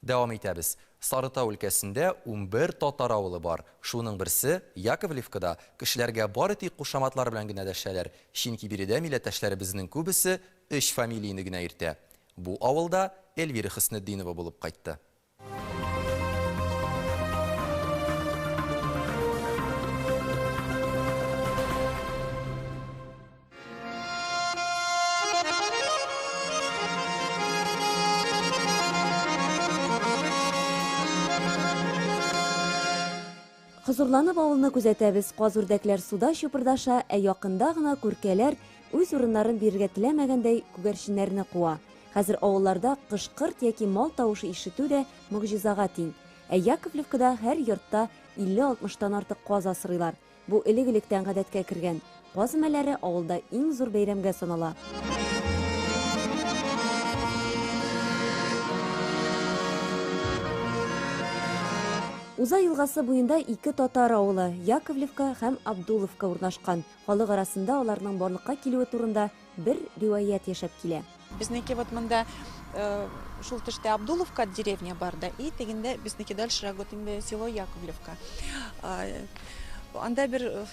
Дәвам итәбез. Сарытау өлкәсендә унбер татар авылы бар. Шуның берсе, Яковлевкада, кешеләргә бары тик кушаматлар белән генә дәшәләр, чөнки биредә милләттәшләребезнең күбесе өч фамилияне генә йөртә. Бу авыл да Эльвира Хөснетдинова булып кайтты. Хозурланып авылны күзәтәбез. Каз үрдәкләр суда чупырдаша, ә якында гына күркәләр үз урыннарын бирергә теләмәгәндәй күгәрченнәрне куа. Хәзер авылларда кышкырт яки мал тавышы ишетү дә могҗизага тиң. Ә Яковлевкада һәр йортта 50-60 тан артык каз асрыйлар. Бу элек-электән гадәткә кергән. Каз өмәләре авылда иң зур бәйрәмгә санала. Уза елгасы буенда ике татар авылы, Яковлевка һәм Абдуловка урнашкан. Халык арасында аларның барлыкка килүе турында бер риваять яшәп килә. Безнеке вот монда э, шул төштә Абдуловка деревня бар да, и тегендә безнеке дальше вот инде село Яковлевка. Э, анда бер э,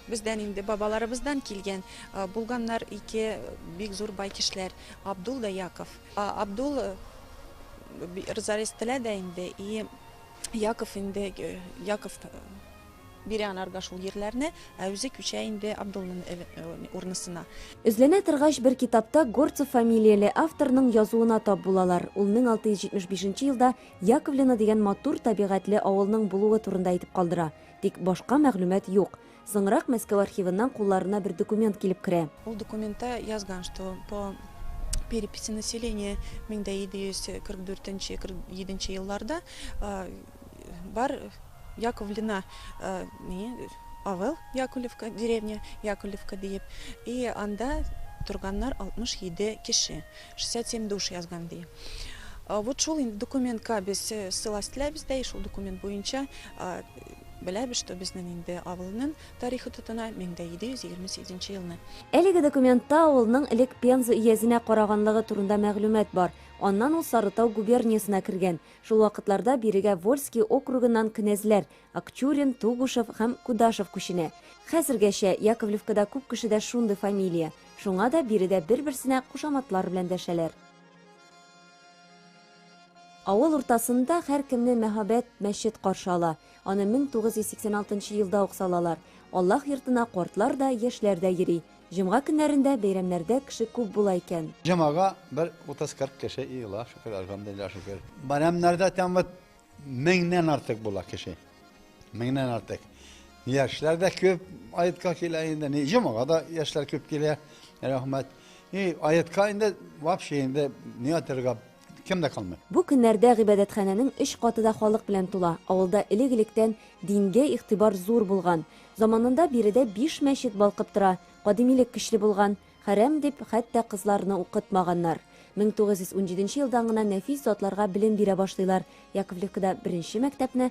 бездән инде бабаларыбыздан килгән э, булганнар ике бик зур бай кешеләр Абдул да Яков. Абдул э, Рзарестелә дә инде и Яков инде э, Яков Бирә анарга шул йирләрне, ә үзе күчә инде Абдуллин урнысына. Эзләнә торгач, бер китапта Горцев фамилияле авторның язуына тап булалар, ул 1675 нче елда Яковлино дигән матур табигатьле авылның булуы турында әйтеп калдыра, тик башка мәгълүмат юк. Соңрак Мәскәү архивыннан кулларына бер документ килеп керә. Ул документта язган, что по переписи населения 1744 нче, 47 нче елларда бар, Яковлино, ни, авыл, Яковлевка, деревня, Яковлевка диеп, и анда торганнар 67 кеше, 67 душ язган ди. Вот шул инде документка без ссыласть теләбез дә, и шул документ буенча беләбез, что безнең инде авылның тарихы тотына, 1728 нче елны. Әлеге документта авылның элек Пенза өязенә караганлыгы турында мәгълүмат бар, аннан ул Сарытау губерниясенә кергән, Шул вакытларда бирегә Вольски округыннан кенәзләр, Акчурин, Тугушев һәм Кудашев күченә. Хәзергәчә, Яковлевкада күп кешедә шундый фамилия, шуңа да биредә бер-берсенә кушаматлар белән дәшәләр. Авыл уртасында һәркемне мәһабәт мәчет каршы ала. Аны 1986 елда ук салалар. Аллаһ йортына картлар да, яшьләр дә йөри. Җомга көннәрендә, бәйрәмнәрдә кеше күп була икән. Җомага бер 30-40 кеше йыела, шөкер, әлхәмдулиллаһ, шөкер. Бәйрәмнәрдә тәм вот меңнән артык була кеше. Меңнән артык. Яшьләр дә күп аятка килә инде. Ни, җомага да яшьләр күп килә. Рәхмәт. И аятка инде вообще инде ни атырга кем дә калмый. Бу көннәрдә гыйбадәтханәнең өч каты да халык белән тула. Авылда элек-электән дингә игътибар зур булган. Заманында биредә биш мәчет балкып тора. Кадимилек көчле булган. Хәрам дип, хәтта кызларны укытмаганнар. 1917 елдан гына нәфис затларга белем бирә башлыйлар. Яковлевкада беренче мәктәпне,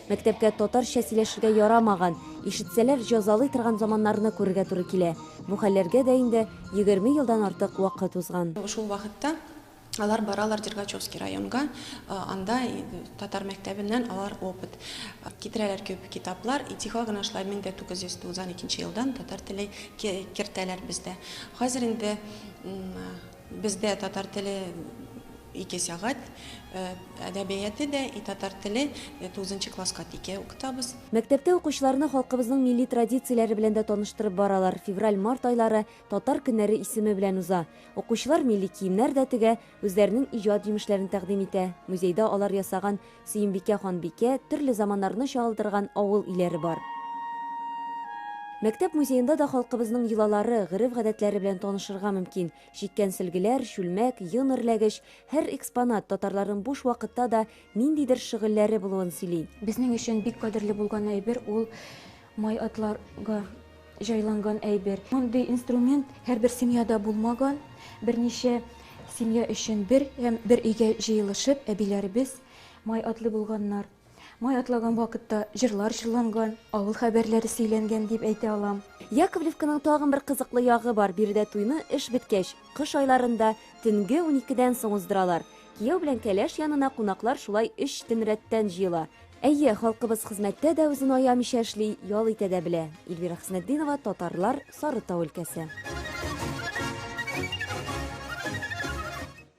Мәктәпкә татарча сөйләшергә ярамаган, ишетсәләр җазалый торган заманнарны күрергә туры килә. Бу хәлләргә дә инде егерме елдан артык вакыт узган. Шул вакытта алар баралар Дергачевский районга, анда татар мәктәбеннән алар опыт китерәләр, күп китаплар, и тихо гына шулай мең дә тугыз йөз туксан икенче елдан татар теле кертәләр бездә. Хәзер инде. Бездә татар теле ике сәгать, әдәбияте дә, и татар теле тугызынчы класска тике укытабыз. Мәктәптә укучыларны халкыбызның милли традицияләре белән дә таныштырып баралар, февраль-март айлары Татар көннәре исеме белән уза. Укучылар милли киемнәр дә тегә, үзләренең иҗат җимешләрен тәкъдим итә, музейда алар ясаган Сөембикә ханбикә, төрле заманнарны чагылдырган авыл өйләре бар. Мәктәп музеенда да халкыбызның йолалары, гореф-гадәтләре белән танышырга мөмкин. Чиккән сөлгеләр, чүлмәк, йон эрләгеч, һәр экспонат татарларның буш вакытта да ниндидер шөгыльләре булуын сөйли. Безнең өчен бик кадерле булган әйбер ул, Май атларга җайланган әйбер. Мондый инструмент һәрбер семьяда булмаган. Берничә семья өчен бер һәм бер өйгә җыелышып, әбиләребез май атлый булганнар. Май атлаган вакытта җырлар җырланган, авыл хәбәрләре сөйләнгән дип әйтә алам. Яковлевканың тагын бер кызыклы ягы бар, биредә туйны эш беткәч, кыш айларында, төнге уникедән соң уздыралар. Кияү белән кәләш янына кунаклар шулай өч төн рәттән җыела. Әйе, халкыбыз хезмәттә дә үзен аямыйча эшли, ял итә дә белә. Ильвира Хөснетдинова, Татарлар, Сарытау өлкәсе.